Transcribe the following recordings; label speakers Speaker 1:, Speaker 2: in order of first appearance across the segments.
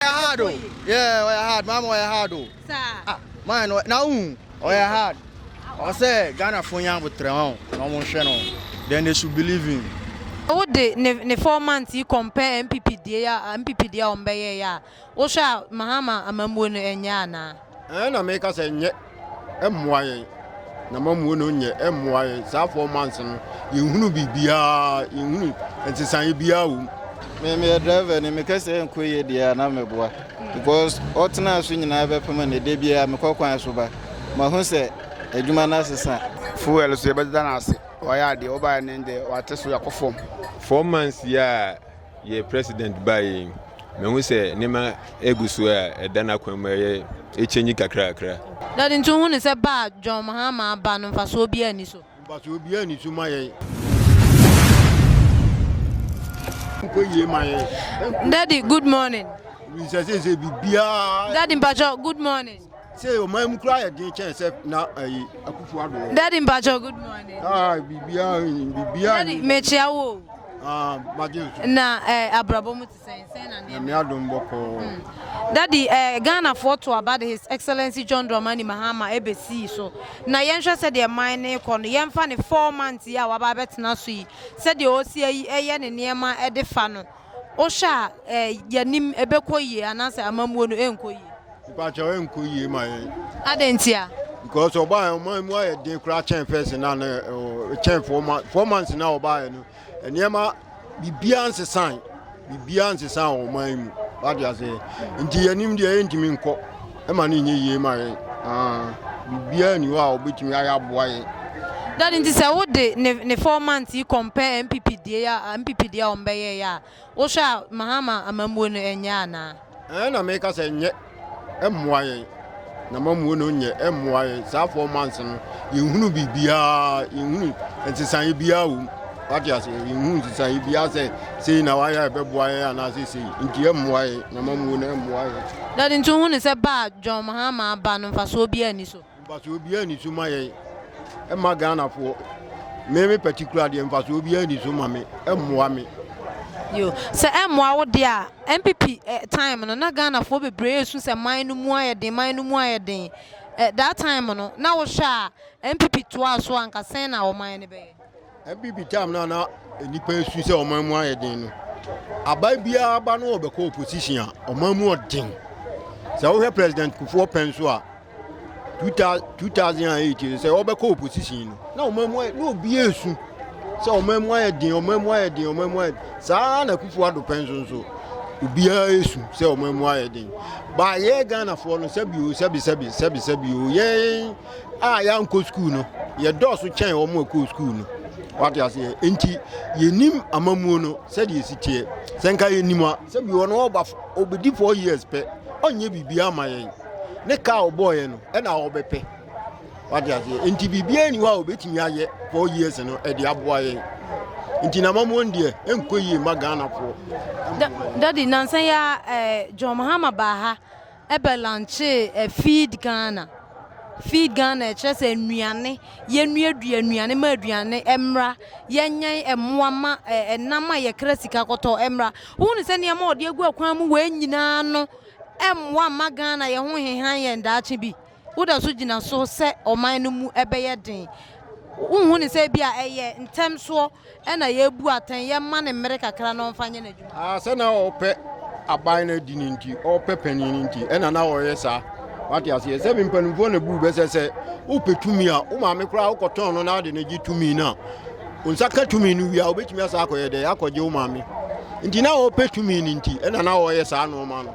Speaker 1: Ɔyɛ hard o, yeah, ɔyɛ hard, maame ɔyɛ hard o.
Speaker 2: Saa. Ah, maa no, na
Speaker 1: wohu, ɔyɛ hard. Ɔwɔ sɛ Ghanafoɔ nya abotrɛ ho na wɔhwɛ no, then they should believe him. Sɛ wode ne
Speaker 2: ne four months yi compare NPP deɛ a NPP deɛ a wɔbɛyɛeɛ a, wohwɛ a Mahama amammuo no ɛnyɛ anaa? Ɛɛ na meka
Speaker 3: sɛ nyɛ mmoa yɛn na mamuo no nyɛ mmoa yɛn saa four months no yɛhunu biribiaa yɛhunu nsesaeɛ biaa wɔ mu memeyɛ
Speaker 1: driver ne meka sɛ nkɔ yie deɛ a na meboa because ɔtenaa so nyinaa bɛpem ne da biaa mekɔ kwan so ba mahu sɛ adwuma no asesa fuel so yɛbɛdeda
Speaker 4: no ase wayɛ adeɛ wɔbaeɛ ne deɛ wate so yɛakɔ fam four months yi
Speaker 5: a Yɛ president baeɛ yi, mahu sɛ nneɛma regu so a ɛda n'akwan mu a ɛyɛ ɛkyɛnyi kakrakra. Dade nti wohu no
Speaker 2: sɛ ba a John Mahama aba no mfasoɔ biara nni so? Mfasoɔ biara nni so ma
Speaker 3: yɛn. Nkɔ
Speaker 2: yie ma yɛn. Dade good morning. Wisɛ sɛ sɛ biribiara.
Speaker 3: Dade mpakyɛ good morning.
Speaker 2: Sɛ ɔman mu
Speaker 3: koraa yɛ den kyɛn sɛ na ayi Akufo Addo wɔ.
Speaker 2: Daddy mpatsɔ good morning. Ah biribiara biribiara. Daddy mekyia wo. Ah magye nso. Na ɛɛ eh, abrabɔ mu te sɛn sɛn na nneɛma. Nyame adom bɔkɔɔ. Hmm. Daddy ɛɛ eh, Ghanafoɔ to aba de His Excellency John Dramani Mahama ebesii so na yɛnhwɛ sɛdeɛ man ne kɔ no yɛmfa ne four months yi a waba abɛtena so yi sɛdeɛ ɔsi ɛyɛ ne nneɛma de fa no. Wohwɛ a eh, yɛnim ɛbɛkɔ yie anaasɛ amammuo no ɛnkɔ yie? Mpakyɛw ɛnkɔ
Speaker 3: yie ma yɛn. Adɛn ntia?
Speaker 2: Because ɔbaayɛ
Speaker 3: ɔman mu ayɛ den koraa kyɛn fɛs na no eh, kyɛn four months four months na ɔbaayɛ no nneɛma biribiara nsesan biribiara nsesan wɔ ɔman mu wate aseɛ nti yɛnim deɛ yɛntumi nkɔ. ɛma no nyɛ yie ma yɛn. Biribiara nni hɔ a wɔbɛtumi ayɛ aboa yɛn. Daddy nti sɛ
Speaker 2: wo de ne ne four months yi compare NPP die a NPP deɛ a wɔn bɛyɛ yɛ a wohwɛ a Mahama amammuo no ɛnyɛ anaa. Ɛn na meka
Speaker 3: sɛ nyɛ ɛmmoa yɛn na mammuo no nyɛ ɛmmoa yɛn saa four months no yɛnhunu biribiara yɛnhunu nsesaeɛ biara wɔ mu. Wate ase, nhu nsesaeɛ biara sɛ sei na wayɛ a ɛbɛboa yɛ anaasɛ sei nti ɛmmoa yɛ na ma muo na ɛmmoa yɛ. Daddy nti wohu ne
Speaker 2: sɛ ba a John Mahama aba no mfasoɔ biara ni so? Mfasoɔ biara ni so ma
Speaker 3: yɛ ɛma Ghanafoɔ. Me me particular deɛ mfasoɔ biara ni so ma me, ɛmmoa me. Yo,
Speaker 2: sɛ ɛmmoa wo deɛ a, NPP eh, time no na Ghanafoɔ bebree ɛsu sɛ man no mu ayɛ den, man no mu ayɛ den. Eh, that time no na wohwɛ a NPP toa so a nka sɛn na ɔman no bɛyɛ? Ɛbi bi tam no
Speaker 3: a na nnipa su sɛ ɔman mu ayɛ den no aban biara ba no ɔbɛkɔ opposition a ɔman mu ɔden sɛ wohwɛ president kufuɔ pɛn so a 2008 sɛ ɔbɛkɔ opposition no na ɔman mu na obi esu sɛ ɔman mu ayɛ den ɔman mu ayɛ den ɔman mu ayɛ saa na kufuɔ ado pɛn so nso obiara esu sɛ ɔman mu ayɛ den baayɛ ghanafoɔ no sɛbi o sɛbi sɛbi sɛbi sɛbi o yɛn. a yɛankɔ sukuu no, yɛdɔɔso kyɛn wɔn a ɛkɔɔ sukuu no. Wate aseɛ? Enti yɛnim amamuo no sɛdeɛ ɛsi teɛ. Sɛ nka yɛnim a, sɛ bi wɔn ɔba ɔbɛdi four years pɛ, ɔnyɛ biribiara ma yɛn. Ne kaa ɔbɔɔyɛ no, ɛna ɔbɛpɛ. Wate aseɛ? Enti biribiara ni hɔ a ɔbɛtumi ayɛ four years no ɛde aboa yɛn. Enti na amamuo no deɛ, ɛnkɔ yie ma Ghanafoɔ. Daddy,
Speaker 2: nansa yi a eh, John Mahama baa ha. Eber lanchee ɛ Feed Ghana. Feed Ghana ɛkyerɛ sɛ nnuane, yɛnnuadua nnuane ma aduane mmra, yɛnyɛn mmoa ma ɛnam a yɛkra sika kɔtɔ mmra. Wohu ne sɛ nneɛma a ɔde agu akwan mu wei nyinaa no mmoa mma Ghana yɛn ho nhenhan yɛn daakye bi? woda so gyina so sɛ ɔman no mu bɛyɛ den? Wonhu no sɛ ebia ɛyɛ ntɛm soɔ na yɛbu atɛn, yɛma no mmere kakra na ɔmfa nyɛ n'adwuma? Ah, sɛ na ɔpɛ
Speaker 3: aban no adi no nti, ɔpɛ panin no nti, ɛna na ɔyɛ saa. Wate aseɛ sɛ mpanimfoɔ na buu bɛsɛ sɛ wopɛ tumi a, wo maame koraa wokɔtɔn no na ade no gye tumi no a, wo nsa ka tumi no wie a, wobɛtumi asa akɔyɛ dɛ, akɔgye wo maame. Nti na ɔpɛ tumi no nti, ɛna na ɔyɛ saa nnoɔma no.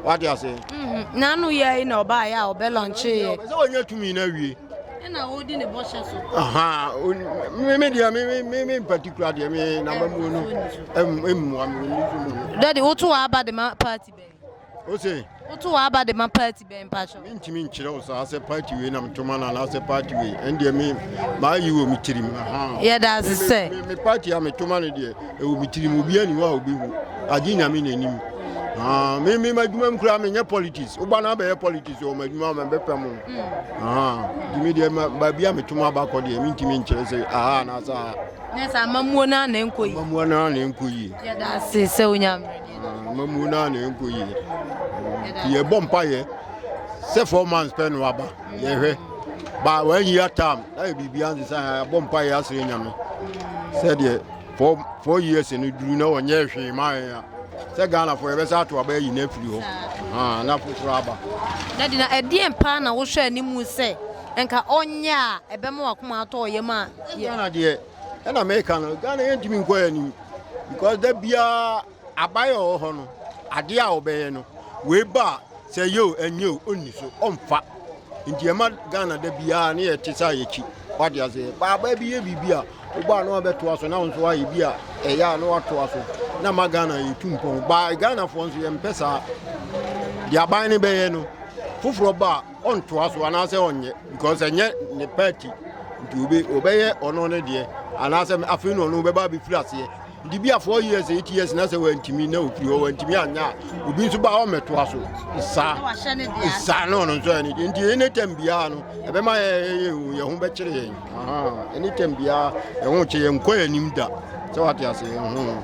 Speaker 3: wate ase mhm. na ano yɛ yi
Speaker 2: na ɔbaeɛ a ɔbɛ lɔnkyeeɛ sɛ wɔnyɛ tumi no awie ɛna ɔdi
Speaker 3: ne bɔhyɛ so me deɛ me particular deɛ me namba muo no mmua me dade woto w'aba
Speaker 2: de ma party bɛn wose
Speaker 3: woto w'aba de ma
Speaker 2: party bɛn mpakyɛw. Me ntumi nkyerɛ wo saa
Speaker 3: sɛ party wei na metoma no anaasɛ party wei ɛndeɛ me maayi wɔ me tirim yɛda ase sɛ
Speaker 2: me party a metoma
Speaker 3: no deɛ ɛwɔ me tirim obiara ni hɔ a obɛhu agye nyame na anim me me m'adwuma mu koraa menyɛ politics woba no abɛyɛ politics wɔ m'adwuma ma bɛpɛ mu nti me deɛ baabi a metoma abakɔ deɛ mentumi nkyerɛ sɛ aha anaasɛ aha na
Speaker 2: sɛ
Speaker 3: amamuo
Speaker 2: no a na ɛnkɔ yi amamuo
Speaker 3: no a na ɛnkɔ
Speaker 2: yi yɛda
Speaker 3: ase sɛ
Speaker 2: wonya mmerɛ
Speaker 3: Mamu na na ɛnkɔ yie nti yɛbɔ mpayɛ sɛ four months pɛ no aba yɛhwɛ ba one year term na yɛ biribia nse sɛ yɛbɔ mpayɛ asrɛ nyame sɛdeɛ four four years no duru na wɔnyɛ hwee ma yɛn a sɛ ghanafoɔ yɛbɛsɛ ato aba ayi no afiri hɔ na foforɔ aba na de na
Speaker 2: ɛdeɛn paa na wohwɛ animu sɛ nka ɔnyɛ a ɛbɛma wakoma atɔ ɔyam a ghana deɛ
Speaker 3: ɛna meka no ghana yɛntumi nkɔ yɛ anim because da biara abayɛ wɔ hɔ no adeɛ a wɔbɛyɛ no wei ba a sɛ yɛ o ɛnyɛ o ɔnni so ɔmfa nti ɛma ghana da biara ne yɛte sɛ a yɛkyi wade aseɛ baaba bi yɛ biribi a wobɔ a na wabɛtoa so na wo nso ayɛ bi a ɛyɛ a na watoa so na ma ghana yɛtu mpɔn baa ghanafoɔ nso yɛmpɛ saa deɛ aban no bɛyɛ no foforɔ ba a Ɔntoa so anaasɛ ɔnyɛ because ɛnyɛ ne party nti obe ɔbɛyɛ ɔno ne deɛ anaasɛ afei na ɔno bɛba abɛfiri aseɛ nti bi a four years eight years na sɛ wantumi na ofiri hɔ wantumi anyɛ a obi nso ba hɔ mmɛtoa so saa saa na ɔno nso ɛne deɛ nti ɛne tam biara no ɛbɛma yɛn ho bɛkyere yɛn ɛne tam biara yɛn ho kye yɛn nkɔ yɛn anim da sɛ wate ase yɛn ho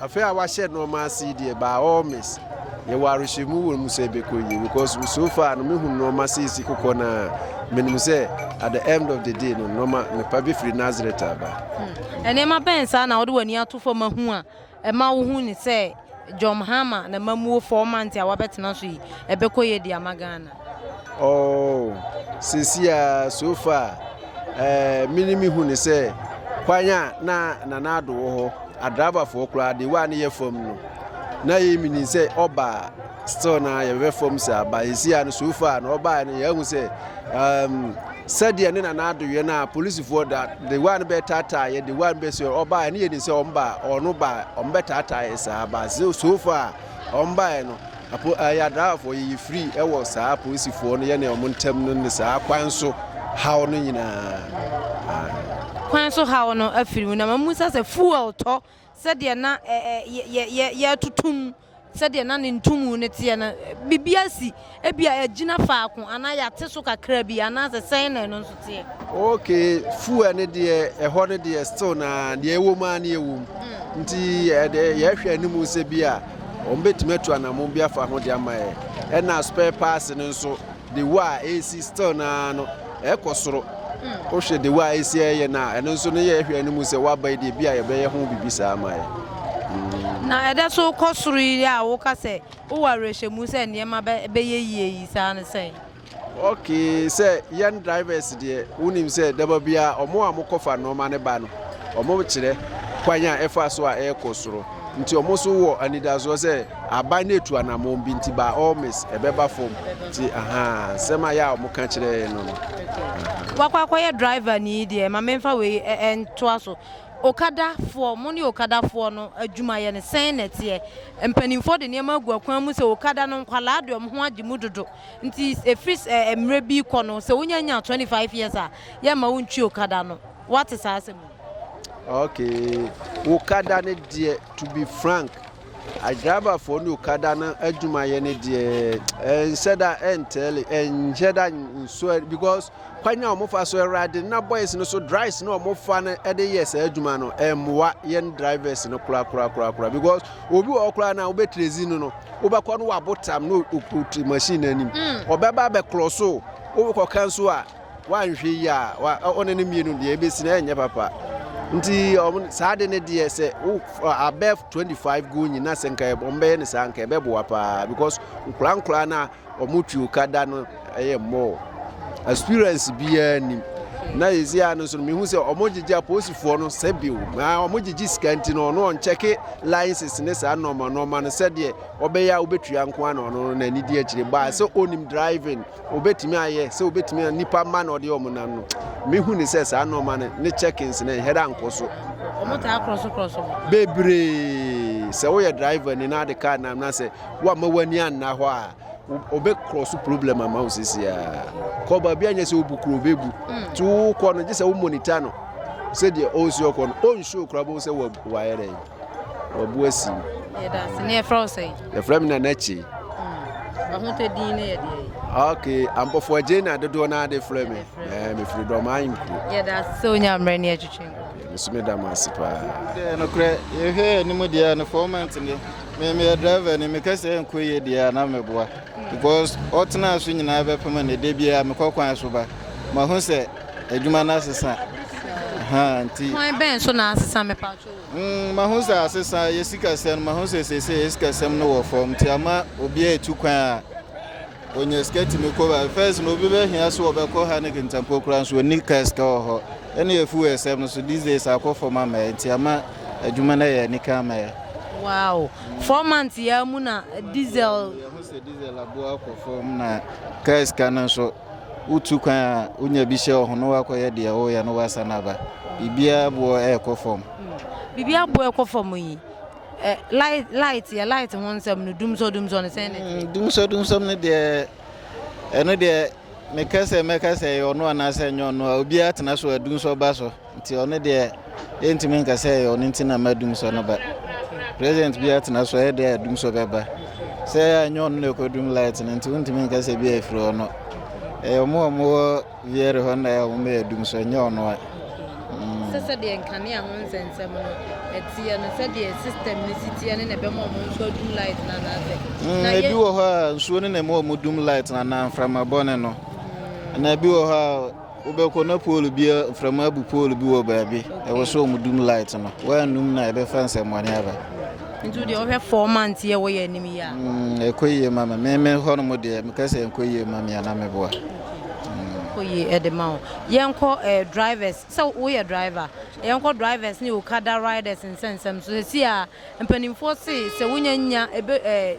Speaker 6: Afe a wɔahyɛ nneɛma ase yi deɛ, by all means, yɛwɔ awerɛhyɛmu wɔ mu sɛ ɛbɛkɔ yie because so far no mehu nneɛma sɛ ɛsi kokɔ no a menim sɛ at the end of the day no nneɛma mepa bɛfiri Nazareth aba. Hmm. Nneɛma bɛn
Speaker 2: saa na wode w'ani ato fam ahu a ɛma wohu ne sɛ John Mahama na mamuo four months a wabɛtena so yi ɛbɛkɔ yie de ama Ghana? Oh,
Speaker 6: seesei ara, so far, eh, me ne me hu ne sɛ kwan a na Nana Ado wɔ hɔ, adrabafoɔ koraa de wa ne yɛ fam no. Na yɛ menim sɛ ɔba still na yɛbɛ fam saa ba seesei ara no so far na ɔbaa no yɛahu sɛ um, sɛdeɛ ne Nana Ado yɛ no a polisifoɔ da de wa no bɛtaataa yɛ de wa no bɛsɛ ɔbaa ne yɛ nim sɛ ɔmba ɔno ba ɔmbɛtaataa yɛ saa ba so far ɔmbaeɛ no Apo Ayadawafo yiyi firi wɔ saa apolisifoɔ no yɛne wɔn ntam no ne saa kwan so haw no nyinaa.
Speaker 2: Kwan so haw no afiri mu na ma mu sa sɛ fuel tɔ sɛdeɛ na yɛtotom sɛdeɛ na ne ntomu no teɛ no biribi asi ebi a ɛgyina faako anaa yɛate so kakra bi anaasɛ sɛn na ɛno nso deɛ. Ok
Speaker 6: fuel ne deɛ ɛhɔ ne deɛ still na deɛ ɛwɔ mu a ne ɛwɔ mu mm. nti yɛhwɛ anim sɛ bi a wɔn bɛtumi atu anamon bi afa ho de ama yɛ ɛna spare parts no nso de wo a ɛsi still na no ɛkɔ soro mm. wohwɛ de wo a ɛsi ɛyɛ no a ɛno nso ne yɛhwɛ anim sɛ woaba yi deɛ bi a yɛbɛyɛ ho biribi saa ama yɛ mm. na
Speaker 2: ɛdɛ so kɔ soro yi a woka sɛ wowɔ awerɛhyɛmu sɛ nneɛma bɛyɛ yie yi saa no sɛn Okay
Speaker 6: sɛ yɛn drivers deɛ wonim sɛ daba biara ɔmo a mokɔfa nnoɔma no ba no ɔmo kyerɛ kwan a ɛfa so a ɛrekɔ soro nti ɔmo nso wɔ anidasoɔ sɛ aban no etu anammɔn bi nti by all means ɛbɛba fam nti ahaa nsɛm a yɛ a ɔmo ka kyerɛ no no. wakɔ
Speaker 2: akɔyɛ driver ni deɛ ma memfa wei ntoa so okadafoɔ mo ne okadafoɔ no adwumayɛ no sɛn na ɛteɛ mpanimfoɔ de nneɛma agu akwan mu sɛ okada no nkwalaa de ɔmo ho agye mu dodo Nti ɛfiri mmerɛ bi rekɔ no sɛ wonya nya 25 years a yɛmma wo ntwi okada no. Woate saa asɛm yi?
Speaker 6: Okay, okada no deɛ to be frank adriverfoɔ ne okada no adwumayɛ no deɛ ɛnhyɛ da ɛntɛle ɛnhyɛ da nsoɛ because kwan a wɔfa so ɛwura de na boys no so drives na wɔfa no ɛde yɛ saa adwuma no ɛmmoa yɛn drivers no kora kora kora kora because obi wɔ kora na wobɛtrezi no no wobɛkɔ no wabo tam no ɔkuti machine no anim mm. ɔbɛba bɛkorɔ so wobɛkɔ kan so a wanhwɛ yi a ɔne no mmienu deɛ ɛbɛsi no ɛnyɛ papa nti saa de no deɛ sɛ abɛ 25 go nyina sɛ nka wɔbɛyɛ no saa nka ɛbɛboa paa because nkora nkora no a wɔn tuo ka da no yɛ mmɔɔ experience biara nim na yɛsi ano nso mehu sɛ wɔn gyegye apolisifoɔ no sɛ bio na wɔn gyegye sika nti no ɔno ɔnkyɛke license ne saa nɔɔma nɔɔma no sɛdeɛ ɔbɛyɛ a wobɛtua nko a na ɔno na ani di akyire baa sɛ ɔnim driving obɛtumi ayɛ sɛ obɛtumi nipa mma na ɔde wɔn nam no mehu ne sɛ saa nɔɔma no ne checkings no ɛhɛrɛ ankɔ so bebree sɛ woyɛ driver ni na ade kaa nam na sɛ Woamma w'ani anna hɔ a, ɔbɛkorɔ so problem ama wo sisiaa. Kɔ baabi a nyɛ sɛ wobu kuro bɛbu. Hmm. Nti wokɔ no gye sɛ wo monita no sɛdeɛ ɔnsi ɔkɔ no ɔnhyɛ okura bɛhu sɛ wayɛ dɛn wabu asi.
Speaker 2: Yɛfrɛ me Nana Kye. ok ampɔfoɔ
Speaker 6: agye na dodoɔ no ade frɛ me mefiri dɔmaa nkuo
Speaker 2: mesome da mo ase
Speaker 6: paa nokorɛ
Speaker 1: yɛhwɛ anim deɛ no fɔmant no Me meyɛ driver ni meka sɛ ɛnkɔ yie deɛ a na mɛboa because ɔtenaa so nyinaa bɛpem no da biara mekɔ kwan so ba mahu sɛ adwuma no asesa nti kwan bɛn so na asesa
Speaker 2: mepatwo mm, mahu sɛ
Speaker 1: asesa yɛ sikasɛm no mahu sɛ sɛsɛ yɛ sikasɛm no wɔ fam nti ama obiara ɛtu kwan a Ɔnya sika tumi kɔ baabi. First no, obi bɛhia so ɔbɛkɔ ha ne Kintampo koraa nso ɔnni kaa sika wɔ hɔ. Ɛne afu wɔ ɛsɛm no so these days akɔ fam ama yɛ nti ama adwuma no ayɛ anika ama yɛ. Wow!
Speaker 2: Four months yi ara mu na diesel. Yɛho sɛ diesel
Speaker 1: aboɔ akɔ fam na kaa sika no nso wotu kwan a wonya bi hyɛ wɔ ho na woakɔyɛ deɛ woyɛ no woasan aba. Biribiara aboɔ ɛrekɔ fam. Biribiara aboɔ
Speaker 2: ɛkɔ fam yi. Ɛ light light yɛ light ho nsɛm no dumsɔ dumsɔ no sɛn na ɛteɛ. Mm, dumsɔ dumsɔ no
Speaker 1: deɛ ɛno deɛ meka sɛ mɛka sɛ ɛyɛ ɔno anaasɛ ɛnyɛ ɔno a obiara tena so a dumsɔ ba so nti ɔno deɛ ɛntumi nka sɛ ɛyɛ ɔno nti na ma dumsɔ no ba president biara tena so ɛyɛ deɛ a dumsɔ bɛba sɛ ɛnyɛ ɔno na ɛkɔdum light no nti wontumi nka sɛ bi a ɛfiri ɔno ɛyɛ ɔmo a ɔmo wɔ Wiɛ rehɔ na ɛyɛ nwoma yɛ dum so ɛnyɛ ɔno ɛ. Mm. Sɛ
Speaker 2: sɛdeɛ nkanea ho nsɛnsɛm no ɛteɛ no sɛdeɛ system no si teɛ ne na ɛbɛma ɔmo nso adum light na anaasɛ. Mm, ebi wɔ hɔ a
Speaker 1: nsuo ne na ɛma ɔmo dum light na anaa mframa bɔne no. Mm. Na ebi wɔ hɔ a wobɛkɔ na pool bi mframa abu pool bi wɔ baabi ɛwɔ so ɔmo dum light no wɔanum na ɛbɛfa nsɛmmɔne aba nti deɛ ɔhwɛ
Speaker 2: four months yɛ wɔ yɛ anim yɛ a mm, ɛkɔ yie ma
Speaker 1: me meme hɔ no mu deɛ meka sɛ ɛnkɔ yie ma me ana meboa Oye
Speaker 2: ɛde ma wo. Yɛnkɔ eh, drivers, sɛ woyɛ driver, yɛnkɔ drivers ne okada riders nsɛnsɛm so. Sɛsi a mpanimfoɔ se sɛ wonya nya ebe eh,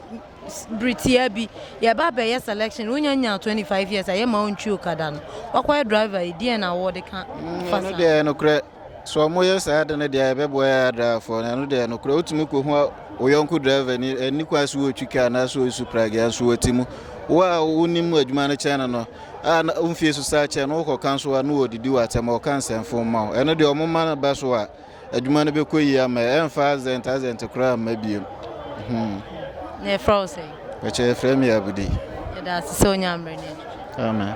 Speaker 2: bere tiaa bi yɛba abɛyɛ selection, wonya nya 25 years a yɛma wo ntwi okada no. Wakɔyɛ driver yi, deɛn na wode ka fa saa? Ɛno deɛ nokorɛ.
Speaker 1: Sɛ wɔyɛ saa ade no deɛ ɛbɛboa yɛn adraafoɔ no, ɛno deɛ nokorɛ wotumi kɔhu wo yɔnko drɛvani ɛni kwan so wɔtwi ka anaasɛ wɔsu pragea nso wɔte mu wo a wonim adwuma no kyɛn no no a womfie so saa kyɛn no wokɔka nso a no wɔdidi wɔ atɛm ɔka nsɛmfo ma wo ɛno deɛ ɔmo ma no ba so a adwuma no bɛkɔ yi ama ɛmfa azɛnt azɛnt koraa mma biom hmm.
Speaker 2: na ɛfrɛ wo sɛ ɛkyɛ ɛfrɛ me
Speaker 1: abudi ɛda ase sɛ ɔnya
Speaker 2: mmerɛ no amen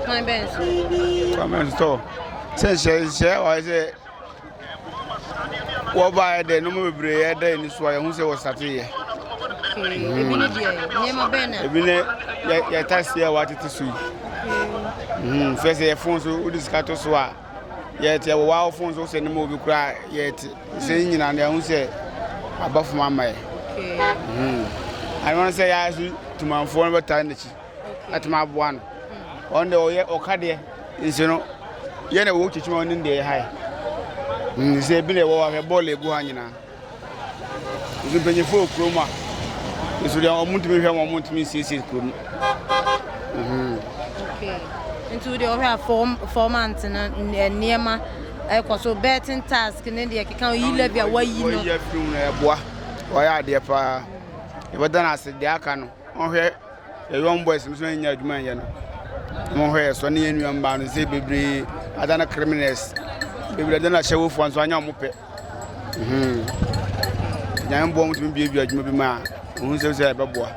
Speaker 2: Kwan bɛn so?
Speaker 4: Kwan bɛn so tɔ? Sɛ nhyɛ nhyɛ a wɔayɛ sɛ wɔbaeɛ dɛ nneɛma bebree yɛ dɛ ani so a yɛhu sɛ wɔsate yɛ. Ebi
Speaker 2: ne deɛ nneɛma bɛn na. Ebi ne yɛ
Speaker 4: yɛta seɛ a wɔatete so yi. Hmm, fɛ sɛ yɛ fon so wode sika to so a yɛte ɛwɔ wɔawo fon so sɛ ne ma obi koraa yɛte sɛ nyina no yɛhu sɛ aba fam ama yɛ. Hmm. Ano sɛ yɛa so tumanfoɔ no bɛtae n'akyi. atumi aboa no ɔno deɛ ɔyɛ ɔka deɛ nsi no yɛ na ɛwɔ kyikyima ɔne deɛ yɛ ha yɛ mm, sɛ ebi na ɛwɔ ahwɛ bɔɔl egu ha nyinaa nso mpanyinfo wɔ kurom a nso deɛ wɔn ntumi hwɛ wɔn ntumi nsiesie kurom. Mhm.
Speaker 2: nti deɛ ɔhwɛ a fɔm fɔm ante no nneɛma ɛkɔ so betting task ne deɛ keka yi levy a wayi no. wɔyɛ fi mu na ɛboa wɔyɛ adeɛ
Speaker 4: paa yɛbɛda no ase deɛ aka no. Monhwɛ yɛ young boys no so na yɛnya adwuma nyɛ no. Monhwɛ yɛ sɔ ne yɛ nua mmaa no sɛ bebree ada no criminals. Bebree ada no ahyɛwofoɔ nso anya wɔn pɛ. Nyame boɔ wɔn tumi biebie adwuma bi mu a wɔn sɛ sɛ ɛbɛboa.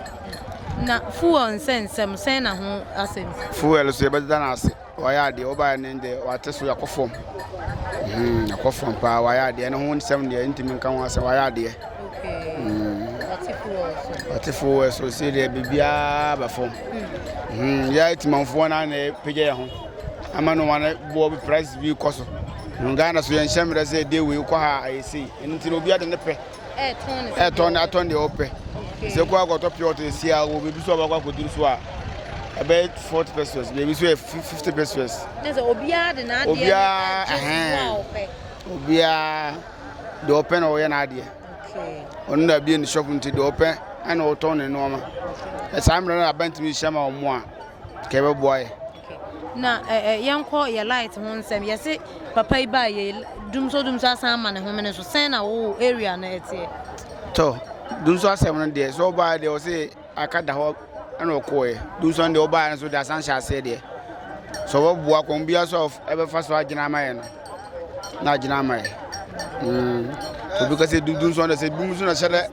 Speaker 4: Na
Speaker 2: fuel nsɛnsɛm sɛn na ho asɛm si? Fuel so yɛbɛda no
Speaker 4: ase. Wayɛ adeɛ wobaeɛ no deɛ wate so akɔ fam hmm, akɔ fam paa wayɛ adeɛ ne ho nsɛm deɛ ntumi nka ho asɛm wayɛ adeɛ ɔte fo wɔ so sɛ deɛ biribiaa ba fam yɛ atimanfoɔ no ana pagya yɛ ho ama no wane boɔ price bi kɔ so ghana so yɛnhyɛ mmerɛ sɛ ɛdeɛ wei kɔ ha a ɛyɛ sei ɛno nti na obi ade ne pɛ ɛtɔn na atɔn deɛ ɔpɛ sɛ kɔ akɔtɔ pure water si a wɔ baabi so a wakɔ akɔduru so a ɛbɛyɛ forty pesos baabi so yɛ fifty pesos. ɛsɛ obiara
Speaker 2: de n'adeɛ obiara ɛhɛn
Speaker 4: obiara deɛ ɔpɛ na ɔyɛ n'adeɛ ɔno na abie ne shop nti deɛ ɔpɛ ɛna ɔtɔn ne nneɛma ɛsaa mmerɛ no abɛntumi hyɛ ma wɔn a kɛbɛboa yɛ. Okay na
Speaker 2: eh eh yɛnkɔ yɛ light ho nsɛm yɛse papa yi baa yɛ dumso dumso asan ama ne homene so sɛn na wo area no ɛteɛ. Tɔ
Speaker 4: dumso asɛm no deɛ sɛ ɔbaa deɛ ɔse aka da hɔ ɛna ɔkɔɛ dumso no deɛ ɔbaa no so deɛ asan hyɛ aseɛ deɛ sɛ ɔbɛboa kɔn biara so a ɛbɛfa so agyina ama yɛ no na agyina ama yɛ mm. obi ka sɛ dumso no sɛ dumso na hyɛ dɛ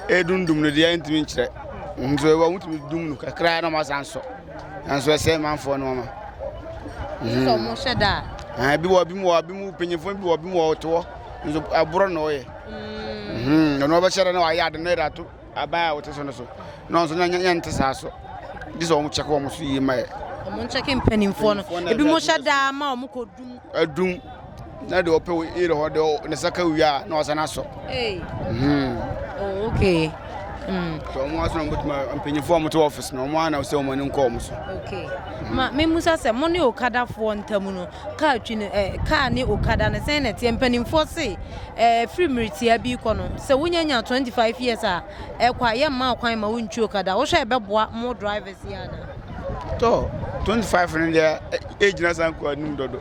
Speaker 4: ɛdundum no deɛ ntumi nkyerɛ nso ɛwɔ wotumi dum no kakra na ɔma asan sɔ nanso ɛsɛe manfoɔ no ɔma sɛ ɔmo
Speaker 2: hyɛ da a ebi wɔ bi mu
Speaker 4: wɔ bi mu mpanyinfoɔ bi wɔ bi mu wɔ ɔtoɔ nso aborɔ na ɔyɛ ɔno ɔbɛhyɛ da na wayɛ ade na ɛde ato aban a wɔte so no so na ɔnso na nyɛ nte saa so gye sɛ ɔmo kyɛkɛ ɔmo so yie ma yɛ ɔmo nkyɛkɛ mpanyinfoɔ
Speaker 2: no ebi mo hyɛ da ma ɔmo kɔ dum adum
Speaker 4: na deɛ ɔpɛ yere hɔ deɛ ne saka wie a na ɔsan asɔ hmm. oh,
Speaker 2: okay hmm. so
Speaker 4: ɔmo aso na ɔmo bɛtuma mpanyinfoɔ ɔmo te ɔfis na ɔmo ana sɛ ɔmo ani nkɔ ɔmo so okay hmm. ma
Speaker 2: memusa sɛ mo ne okadafoɔ ntam no kaa twi no eh, kaa ne okada no sɛn na ɛteɛ mpanimfoɔ se eh, firi mmeretia bi kɔ no sɛ wonya nya 25 years a ɛkɔ a yɛ mma ɔkwan ma wo ntwi okada wo hwɛ ɛbɛboa mo drivers yɛ ana. tɔ
Speaker 4: 25 no deɛ ɛgyina san kɔ anim dodo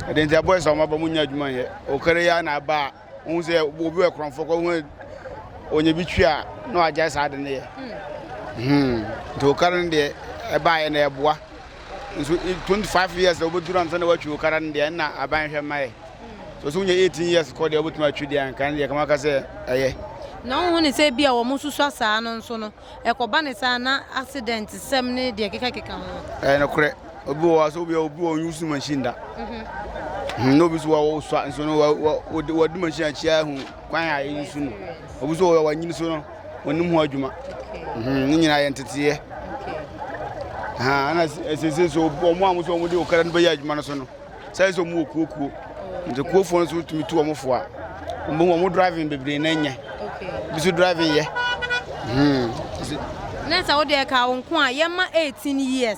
Speaker 4: ɛde nti abɔɛ sɛ ɔmaba mu nya adwuma yɛ ɔkara yɛ na aba a wohu sɛ obi wɔ korɔmfoɔ kɔ ho ɔnya bi twi a na wagyae saa de no yɛ hmm. hmm. nti ɔkara no deɛ ɛbaeɛ na ɛboa nso eh, 25 years na wobɛduru ansa na woatwi wo kara no deɛ ɛna aban hwɛ mma ɛ so so wonya 18 years kɔ deɛ wobɛtumi atwi deɛ anka no deɛ kama ka sɛ ɛyɛ na wohu ne sɛ
Speaker 2: bi a wɔn susua saa no nso no ɛkɔba ne saa na accident sɛm ne deɛ kekakeka ho ɛyɛ nokorɛ obi
Speaker 4: wɔ hɔ a sɛ obi obi wɔ use machine da mhm. na obi so wɔ wosua nso no wɔde machine akyia ahu kwan a ɛyi so no obi so wɔ wanyini so no wɔnim ho adwuma mhm, ne nyinaa yɛ nteteeɛ ɛna ɛsese so wɔn a wɔsɛ wɔn de okara no bɛyɛ adwuma no so no sɛ sɛ wɔn wɔ kuokuo nti kuofoɔ no so tumi tu wɔn fo a wɔn bɛ wɔn driving bebree na nyɛ bi so driving yɛ.
Speaker 2: na sɛ wode ɛka wo nko a yɛma 18 years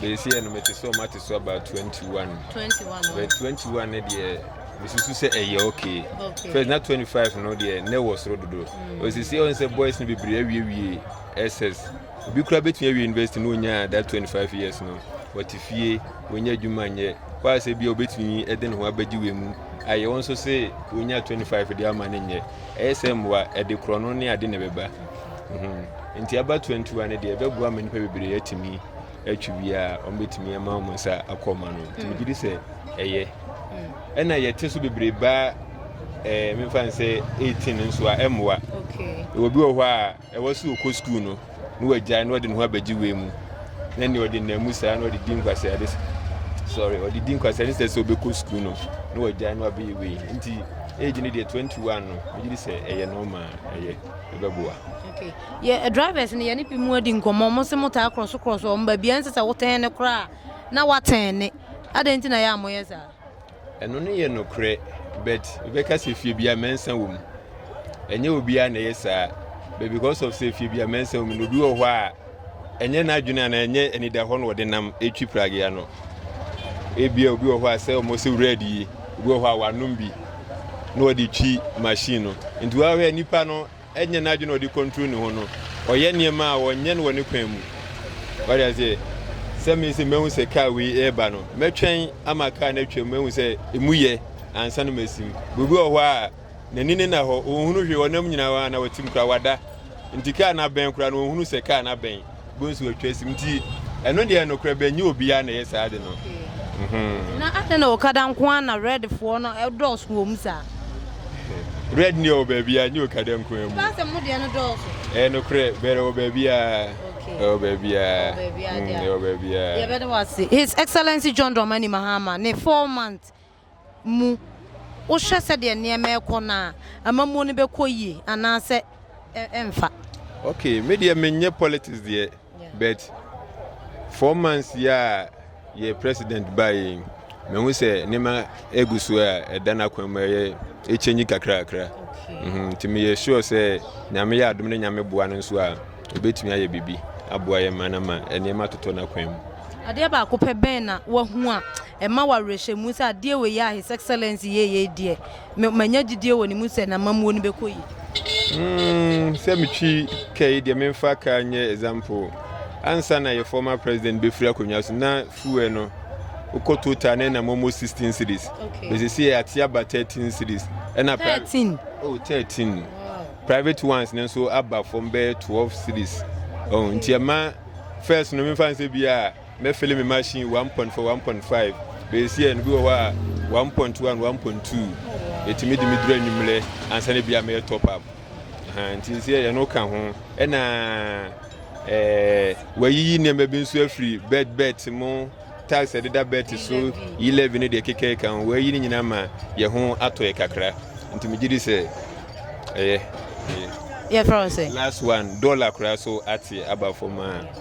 Speaker 5: bɛsi yɛ no mete sɛ ɔma te so about 21 but 21 no deɛ mesusu sɛ ɛyɛ okay first na 25 no deɛ na ɛwɔ soro dodo ɔsisi ɔn sɛ boys no bebree awiewie ss obi kura bɛtumi awie university na ɔnya that 25 years no wɔte fie wɔnya adwuma nyɛ hɔ a sɛ bia ɔbɛtumi ɛde ne ho abɛgye wei mu ayɛ wɔn nso sɛ wɔnya 25 deɛ ama no nyɛ ɛyɛ sɛ mmoa ɛde korɔ no ne ade na ɛbɛba nti aba 21 no deɛ ɛbɛboa ma nnipa bebree atumi atwi biara wɔbɛtumi ama wɔn nsa akɔ ma no nti megye di sɛ ɛyɛ ɛna yɛte so bebree baa ɛɛ mefa n sɛ 18 nso a ɛmmoa ɛwɔ bi wɔ hɔ a ɛwɔ sɛ ɔkɔ sukuu no na wagyae na ɔde ne ho abɛgye wei mu na nea ɔde nam mu saa na ɔde di nkwasɛ ade sorry ɔde di nkwasɛ ne sɛ sɛ ɔbɛkɔ sukuu no na wagyae na wabɛyɛ wei nti age no deɛ 21 no megye di sɛ ɛyɛ normal ɛyɛ ɛbɛboa yɛ
Speaker 2: drivers no yɛne bi mu adi nkɔmmɔ ɔmo se mo taa krɔso krɔso ɔmo baabi a ɛnsɛ sɛ wotɛn ne koraa na watɛn ne adɛn nti na yɛ a moyɛ saa. ɛno no yɛ
Speaker 5: nokorɛ but bɛka sɛ fie bia mɛnsa wɔ mu ɛnyɛ obiara na ɛyɛ saa but because of sɛ fie bia mɛnsa wɔ mu na obi wɔ hɔ a ɛnyɛ n'adwene a na ɛnyɛ anida hɔ na ɔde nam ɛtwi pragea no ebia obi wɔ hɔ a sɛ ɔmo sɛ wura adie obi wɔ hɔ a wanom bi na ɔde twi machine no nti wɔahwɛ nipa no Ɛnyɛ n'adwene a ɔde kɔntro ne ho no. Ɔyɛ nneɛma a ɔnyɛ no wɔ ne kwan mu. Wate aseɛ? Sɛ me sɛ mahu sɛ kaa wei reba no, mɛtwɛn ama kaa no atwam, mahu sɛ ɛmu yɛ ansa na masim. Obi wɔ hɔ a, n'ani no nna hɔ, ɔnhunu hwee, ɔnam nyinaa, anaa ɔtem koraa, wada. Nti kaa no abɛn koraa no, ɔnhunu sɛ kaa no abɛn. Bɔ nsu atwa asim nti ɛno deɛ nokorɛ bɛ nyɛ obiara na ɛyɛ saa ade no. Mm-hmm. Na
Speaker 2: adɛn na okada nko ara na red foɔ no dɔɔso wɔ mu saa?
Speaker 5: Red ni ɛwɔ baabi a nyɛ okada nko ara mu. Baasɛ mo deɛ no dɔɔso.
Speaker 2: Ɛyɛ nokorɛ bɛrɛ
Speaker 5: wɔ baabi a. Ɛwɔ baabi a.
Speaker 2: Ɛwɔ baabi a. Yɛbɛda wɔ ase. His Excellency John Dramani Mahama ne four months. mu. Wohwɛ sɛdeɛ nneɛma rekɔ no a, amammuo no bɛkɔ yie anaasɛ ɛmfa? Ok
Speaker 5: me deɛ menyɛ politics deɛ but four months yi a yɛ president baeɛ yi mehu sɛ nneɛma egu so a ɛda n'akwan mu ɛyɛ ɛkyɛnyi kakrakra mhm, nti meyɛ sure sɛ nyame yɛ adom ne nyame boa no nso a obetumi ayɛ biribi aboa yɛ ma no ma nneɛma atotɔ n'akwan mu. Adeɛ baako pɛ
Speaker 2: bɛn na wahu a Ɛma wo awerɛhyɛmu sɛ adeɛ wei a His Excellency yɛɛ yei deɛ, me manya gyidie wɔ ne mu sɛ n'amammuo no bɛkɔ yie. Mmm
Speaker 5: sɛ me twi ka yi deɛ me nfa car nyɛ example ansa na yɛ former president bɛ firi akonnwa so na fuel no wo kɔ total na ɛnam almost sixteen cedis but sɛsɛ yɛ ate aba thirteen cedis ɛna thirteen oh
Speaker 2: thirteen
Speaker 5: private ones no nso aba fam bɛyɛ twelve cedis oh nti ɛma first no me nfa nsɛ bi a Mɛfili me machine one point four one point five bɛsi ɛno bi wɔ hɔ a one point one one point two ɛtumi de me duru anwummerɛ ansa na bi a mɛyɛ top up nti nsi ɛyɛ no ka ho ɛna ɛɛ wayiyi nneɛma bi nso afiri bed bet mu tax ɛdeda bet so yi levy ne deɛ keka ɛka ho wayi ne nyinaa ma yɛ ho atɔ yɛ kakra nti megye di sɛ ɛyɛ
Speaker 2: yɛfrɛ wo sɛ last one dollar
Speaker 5: koraa so ate aba fam a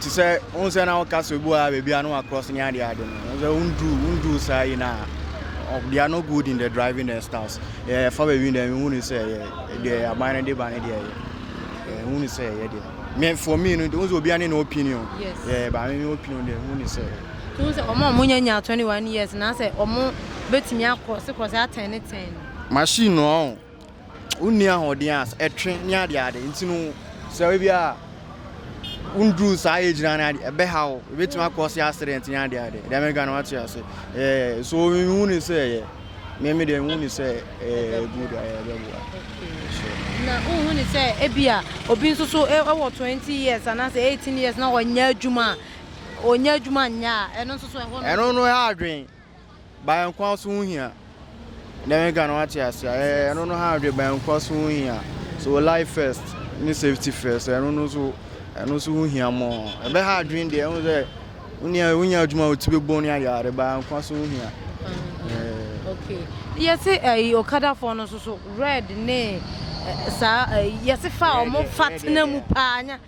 Speaker 7: Te sɛ wohu sɛ na woka sɛ obi wɔ ha baabi a na wakrɔs ne adeɛ ade no sɛ wonduru wonduru saa yi na they are not good in the driving and styles yɛ fa baabi deɛ mehu ne sɛ yɛ deɛ aban no de ba ne deɛ yɛ ɛhu ne sɛ yɛ deɛ me for me no wohu sɛ obiara ne ne opinion yɛ ba me me opinion deɛ hu ne sɛ to sɛ ɔmo a ɔmo
Speaker 2: nyɛ nya 21 years na sɛ ɔmo betumi akrɔse krɔse atɛn ne tɛn no machine
Speaker 7: no ɔn wonni ahoɔden a ɛtwe ne adeade nti no sɛ ebi a wonduru saa age na ade ɛbɛha wo ebetumi akɔ se accident ne adeade deɛ mɛka no wate ase ɛɛ so mehu ne sɛ ɛyɛ mɛmi deɛ mehu ne sɛ ɛɛ good ayɛ ɛbɛboa na
Speaker 2: wohu ne sɛ ebi a obi nso so ɛwɔ twenty years anaasɛ eighteen years na ɔnyɛ adwuma a ɔnyɛ adwuma nyɛ a ɛno nso so ɛhɔ no ɛno no ɛha adwen
Speaker 7: Bankwa so ho hia. Dɛm nka no wate ase a ɛɛ ɛno no ha dwe bankwa so ho hia. So life first ne safety first ɛno no so ɛno so ho hia mo. Ɛbɛ ha adwen deɛ ɛho sɛ wonya wonya adwuma wo ti bɛ bɔ ne ayɛ ade bankwa so ho hia.
Speaker 2: Okay. Yɛse ɛyi eh, okadafoɔ no nso so red ne eh, saa eh, yɛse fa ɔmo fa tena mu paa nya.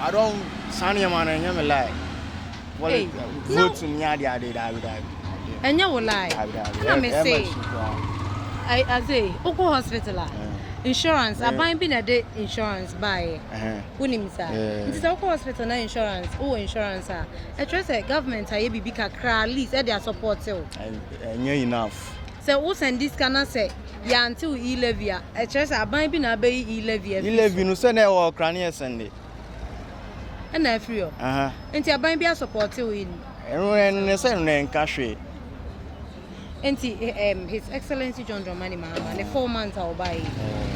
Speaker 7: I don't saa nneɛma no ɛnyɛ me like. Wɔle
Speaker 2: Ei, na- vote mu ne
Speaker 7: ade ade daabi daabi. Ɛdeɛ ɛnyɛ
Speaker 2: wo lie daabi daabi. na Ɛ- me ɛma se nsu koraa. I- adze wokɔ hospital a Eh. insurance Eh. aban bi na ɛde insurance baeɛ Ɛhɛn. wonim saa Eh. nti sɛ wokɔ hospital na insurance wowɔ insurance a ɛkyerɛ sɛ government ayɛ biribi kakra at least ɛde asɔpɔɔte wo Ɛ- ɛnyɛ enough.
Speaker 7: Sɛ wo sɛn
Speaker 2: di sika na sɛ yɛ ante wo e levy a ɛkyerɛ sɛ aban bi na abɛyi e levy afiri so. E levy no sɛ na ɛwɔ ɔkra
Speaker 7: ne ɛsɛn de.
Speaker 2: Ɛna afiri hɔ. Aha. Nti aban bi asɔpɔte wo
Speaker 7: e no. Ɛno
Speaker 2: ɛno ne
Speaker 7: sɛ ɛno
Speaker 2: ɛnka hwee. Nti um, his excellency John Dramani Mahama ne four months a ɔbaa yi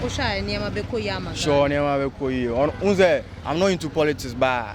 Speaker 2: wohwɛ a nneɛma bɛkɔ yie ama Ghana. Sure nneɛma bɛkɔ
Speaker 7: yie. Ɔno n sɛ I'm not into politics baa.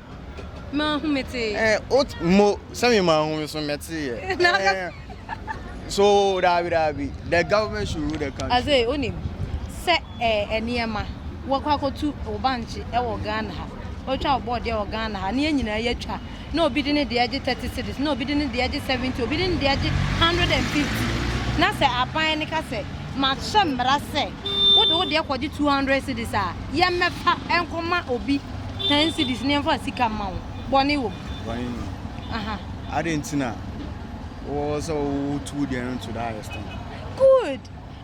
Speaker 7: Manhu
Speaker 2: metee. Eh, ot mo
Speaker 7: sɛ me manhu me so mɛte yɛ. Eh, so daabi daabi the government should rule the country. Aze onim
Speaker 2: sɛ eh nneɛma wɔkɔ akɔtu wo bankye ɛwɔ Ghana ha. Otwa wo bɔɔde ɛwɔ Ghana ha. Ne yɛn nyinaa yɛatwa. Na obi de ne deɛ gye 30 cedis, na obi de ne deɛ gye 70, obi de ne deɛ gye 150. Na sɛ aban no ka sɛ mahyɛ mmara sɛ wode wo deɛ kɔgye 200 cedis a, yɛmmɛfa nkɔma obi. Ten cedis ne yɛmfa sika mma wo, bɔne wɔ mu? Bɔne nni mu. Aha.
Speaker 7: Adɛn nti na wowɔ sɛ wotu wo deɛ no to that extent? Good.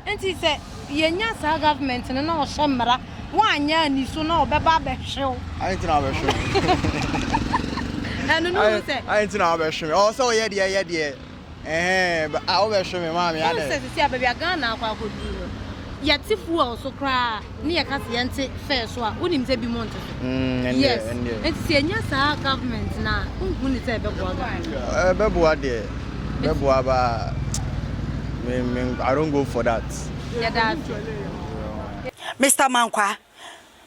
Speaker 2: Nti sɛ yɛnya saa government no na ɔhyɛ mmara, woanyɛ ani so na ɔbɛba abɛhwe wo. Adɛn nti na wabɛhwe
Speaker 7: me?
Speaker 2: Ɛno no hu sɛ. Adɛn nti na wabɛhwe
Speaker 7: me? Ɔwɔ sɛ ɔyɛ deɛ yɛ deɛ. Ɛhɛɛɛɛɛ ah wobɛhwe me maame adɛn. Wohu sɛ sisi a baabi a Ghana
Speaker 2: akɔ akɔduru no, yɛte fuel so koraa ne yɛka sɛ yɛnte fare so a, wonim sɛ binom nte so? Mm, ɛndeɛ, Yes, ɛndeɛ. nti sɛ yɛnya saa government no a, wonhu ne sɛ ɛbɛboa Ghana? Ɛbɛboa
Speaker 7: deɛ, ɛbɛboa ba me me I don't go for that. Yɛda
Speaker 2: ase.
Speaker 8: Mister Mankwah,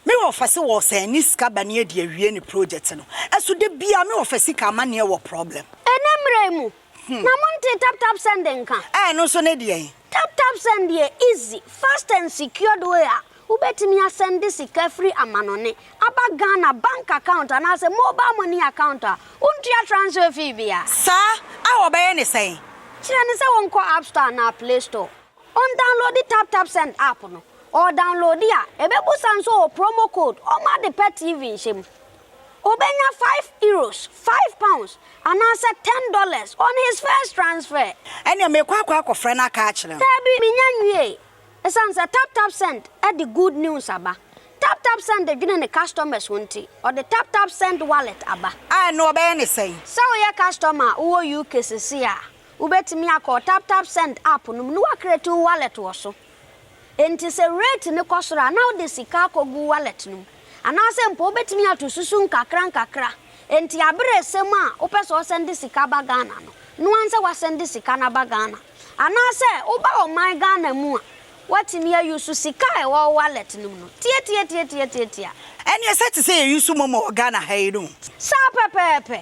Speaker 8: Me wɔfa se wɔɔsɛn ne sika ba ne adi awie ne project no so da biaa me wɔfa sika amaneɛ wɔ problem. Ɛnɛ mmerɛ yi mu
Speaker 9: na mo ntee tap tap send nka? Ɛɛ ɛno nso ne deɛn?
Speaker 8: Tap tap send
Speaker 9: yɛ easy, fast and secured way a wobɛtumi asɛnde sika firi amanɔne aba Ghana bank account anaasɛ mobile money account a wontua transfer fee biara. Saa? A
Speaker 8: wɔbɛyɛ ne sɛn? Kyerɛ no sɛ wɔnkɔ
Speaker 9: App Store anaa Play Store. Ɔndownloadi TapTapSend app no, ɔdownloadi a, ɛbɛbusa nso wɔ promo code ɔma de pɛ TV nhyɛ mu. Ɔbɛnya five Euros, five pounds, anaasɛ ten dollars on his first transfer. Ɛneɛ mekɔ akɔ
Speaker 8: akɔfrɛ no aka akyerɛ no. Daabi, menya nwiee.
Speaker 9: Ɛsiane sɛ TapTapSend de good news aba. TapTapSend dwene ne customers ho nti, ɔde TapTapSend Wallet aba. A ɛno ɔbɛyɛ ne
Speaker 8: sɛn? Sɛ woyɛ customer
Speaker 9: a wowɔ UK sesei a, Wobɛtumi akɔ wo TapTapSend app no mu na woacreate wo wallet wɔ so. Enti sɛ rate no kɔ soro a, na wode sika akɔgu wo wallet no mu. Anaasɛ mpo wobɛtumi ato susu nkakrankakra. Enti aber a ɛsɛ mu a wopɛ sɛ wɔsɛnde sika ba Ghana no, no ara nsɛ woasɛnde sika no aba Ghana. Anaasɛ woba ɔman Ghana mu a, woatumi a use sika a ɛwɔ wo wallet no mu no. Tiatiatiatiatiatia. Ɛneɛ sɛ
Speaker 8: te sɛ yɛ use momo wɔ Ghana ha yi no. Saa pɛpɛɛpɛ.